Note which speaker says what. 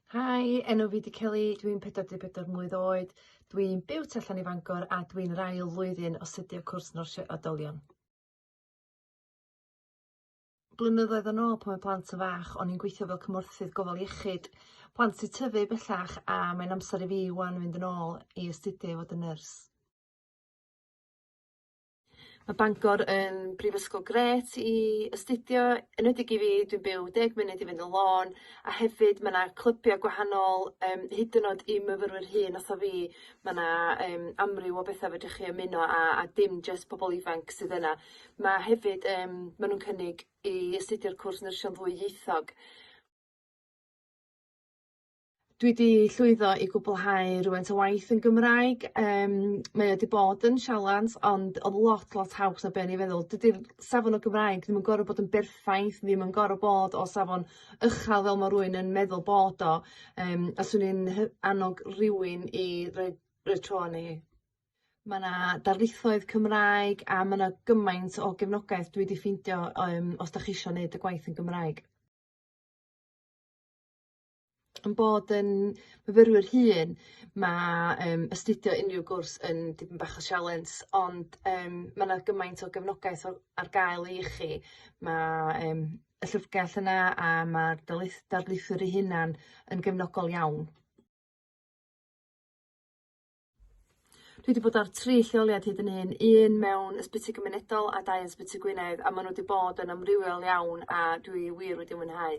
Speaker 1: Hi, enw fi di Kelly, dwi'n 44 mlwydd oed, dwi'n byw tu allan i Fangor a dwi'n yr ail flwyddyn o astudio cwrs Nyrsio Oedolion. Blynyddoedd yn ôl pan oedd plant yn fach o'n i'n gweithio fel cymorthydd gofal iechyd plant sy'n tyfu bellach a mae'n amser i fi ŵan fynd yn ôl i astudio i fod yn nyrs. Ma' Bangor yn brifysgol grêt i astudio enwedig i fi dwi'n byw deg munud i fyny y lôn a hefyd ma' 'na clybia gwahanol yym hyd yn o'd i myfyrwyr hŷn fatha fi ma' 'na yym amryw o betha fedrwch chi ymuno â a dim jyst pobol ifanc sydd yna. Ma' hefyd yym ma' nw'n cynnig i astudio'r cwrs nyrsio yn ddwyieithog. Dwi 'di llwyddo i gwblhau rwfaint o waith yn Gymraeg yym mae o 'di bod yn sialens ond odd lot lot haws na be' o'n i feddwl dydi'r safon y Gymraeg ddim yn gor'o' bod yn berffaith ddim yn gor'o' bod o safon ychal fel ma' rywun yn meddwl bod o yym a swn i'n hy- annog rywun i roi roi tro arno hi. Ma' 'na darlithoedd Cymraeg a ma' 'na gymaint o gefnogaeth dwi 'di ffeindio yym os dach chi isio neud y gwaith yn Gymraeg. 'yn bod yn fyfyrwyr hŷn ma' yym astudio unryw gwrs yn dipyn bach o sialens ond yym ma' 'na gymaint o gefnogaeth o- ar gael i chi ma' yym y llyfrgell yna a ma'r darlith- darlithwyr eu hunan yn gefnogol iawn. Dwi 'di bod ar tri lleoliad hyd yn hyn un mewn ysbyty gymunedol a dau yn Sbyty Gwynedd a ma' n'w 'di bod yn amrywiol iawn a dwi wir wedi mwynhau.